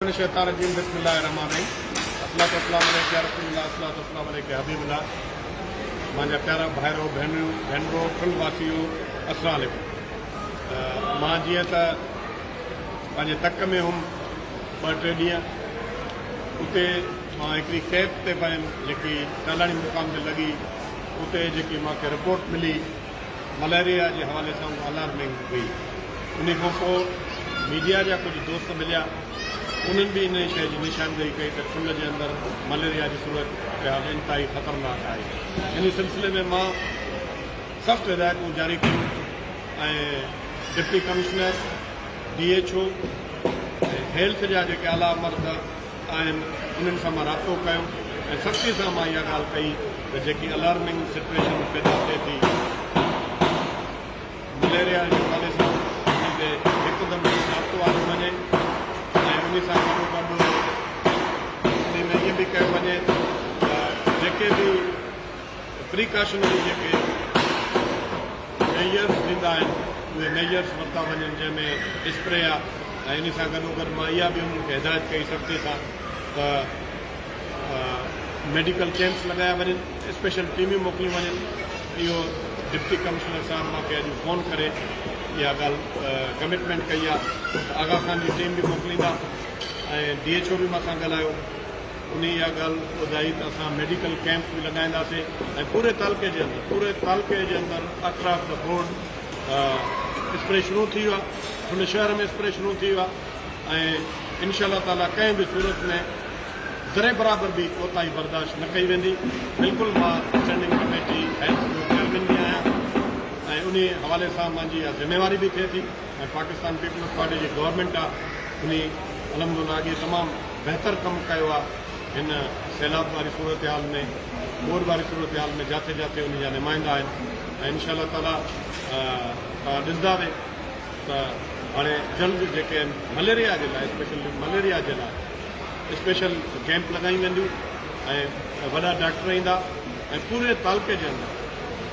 من الشيطان الرجيم بسم الله الرحمٰن الرحيم الصلوة والسلام عليڪ يا رسول الله الصلوة والسلام عليڪ يا حبيب الله مانجا پيارا ڀائرو ڀينريون ڀينرو ٺل واسيو السلام عليڪم مان جيئن ته پنهنجي تڪ ۾ هيم ٻه ٽي ڏينهن اتي مان هڪڙي ڪيپ تي پنهنجي جيڪي ٽالاڻي مقام تي لڳي اتي جيڪي مانکي رپورٽ ملي مليريا جي حوالي سان هو الارمنگ هئي. انهي کان پوء ميڊيا جا ڪجهه دوست مليا، انهن به انهي شيء جي نشاندهي ڪئي ته ٺلهه جي اندر مليريا جي صورت حال انتهائي خطرناڪ آهي. انهي سلسلي ۾ مان سخت هدايتون جاري ڪيون ۽ deputy commissioner, D H O ۽ health جا جيڪي اعليٰ عملدار، آهن انهن سان مان رابطو ڪيو ۽ سختي سان مان اها ڳالهه ڪئي ته جيڪي الارمنگ سچويشن پيدا ٿئي ٿي مليريا جي حوالي سان ان تي هڪدم رابطو آندو وڃي ۽ ان سان گڏو گڏ ان ۾ ائين به ڪيو وڃي ته جيڪي به پريڪاشنري جيڪي ميجرز ڏيندا آهن اهي ميجرز ورتا وڃن جنهن ۾ اسپري آ ۽ ان سان گڏو گڏ مان اها به انهن کي هدايت ڪئي سرتي سان ته ميڊيڪل ڪيمپس لڳايا وڃن اسپيشل ٽيميون موڪليون وڃن اهو ڊپٽي ڪمشنر صاحب مونکي اڄ فون ڪري اها ڳالهه ڪمٽمينٽ ڪئي آ ته آغا خان جي ٽيم به موڪليندا ۽ ڊي ايڇ او به مان سان ڳالهايو انهي اها ڳالهه ٻڌائي ته اسان ميڊيڪل ڪيمپ به لڳائينداسين ۽ پوري تعلقي جي اندر پوري تعلقي جي اندر اطراف ته بورڊ اسپري شروع ٿي ويو آهي ان شهر ۾ اسپري شروع ٿي ويو آهي ۽ انشاء الله تعالي ڪنهن به صورت ۾ ذري برابر به ڪوتاهي برداشت نه ڪئي ويندي بلڪل مان اسٽينڊنگ ڪميٽي هيلٿ جو چيئرمين به آهيان ۽ انهي حوالي سان منهنجي اها ذميواري به ٿئي ٿي. ۽ پاڪستان پيپلز پارٽي جي گورنمينٽ آ انهي الحمدالله اڳي تمام بهتر ڪم ڪيو آ هن سيلاب واري صورتحال ۾ ٻوڏ واري صورتحال ۾ جاٿي جاٿي انهي جا نمائندا آهن ۽ انشاء الله تعالي توهان ڏسندا به ته هاڻي جلد جيڪي آهن مليريا جي لاء اسپيشل مليريا جي لاء اسپيشل ڪيمپ لڳايون وينديون ۽ وڏا ڊاڪٽر ايندا ۽ پوري تعلقي جي اندر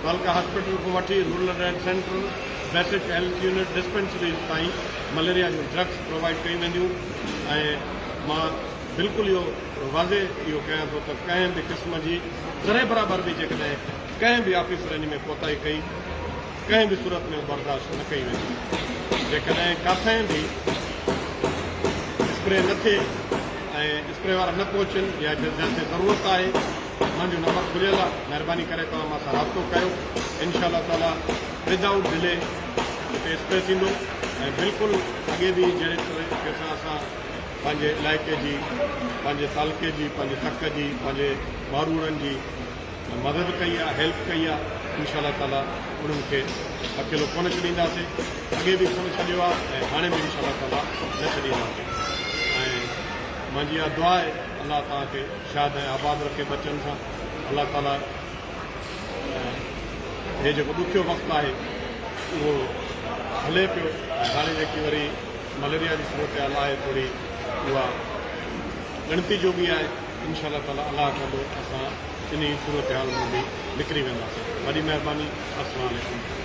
تعلقه هاسپيٽل کان وٺي rural alert centre, basic health unit, dispensaries تائين مليريا جون ڊرگس پرووائيڊ ڪيون وينديون ۽ مان بلڪل اهو واضح اهو ڪيان ٿو ته ڪنهن به قسم جي ذري برابر به جيڪڏهن ڪنهن به آفيسرني ۾ ڪوتاهي ڪئي ڪنهن به صورت ۾ برداشت نه ڪئي ويندي جيڪڏهن ڪاٿائين به اسپري نه ٿئي ۽ اسپري وارا نه پهچن يا جتي ضرورت آهي اسان جو نمبر کليل آ مھرباني ڪري توھان مان سان رابطو ڪيو انشاء الله تعالي ود آئوٽ ڊلي ھتي اسپري ٿيندو ۽ بلڪل اڳي به جھڙي طريقي سان اسان پنھنجي علائقي جي پنھنجي تعلقي جي پنھنجي تڪ جي پنھنجي ڀاروڙن جي مدد ڪئي آ ھيلپ ڪئي آ انشاء الله تعالي انھن کي اڪيلو ڪونه ڇڏينداسين اڳي به ڪونه ڇڏيو آ ۽ ھاڻي به انشاء الله تعالي نه ڇڏينداسين ۽ مانجي اھا دعا آھي الله توھان کي شاد ۽ آباد رکي ٻچن سان الله تعالي ۽ هي جيڪو ڏکيو وقت آهي اهو هلي پيو ۽ هاڻي جيڪي وري مليريا جي صورتحال آهي ٿوري اها ڳڻتي جوڳي آهي انشاء الله تعالي الله ڪندو اسان انهي صورتحال مان به نڪري وينداسين وڏي مهرباني السلام عليڪم.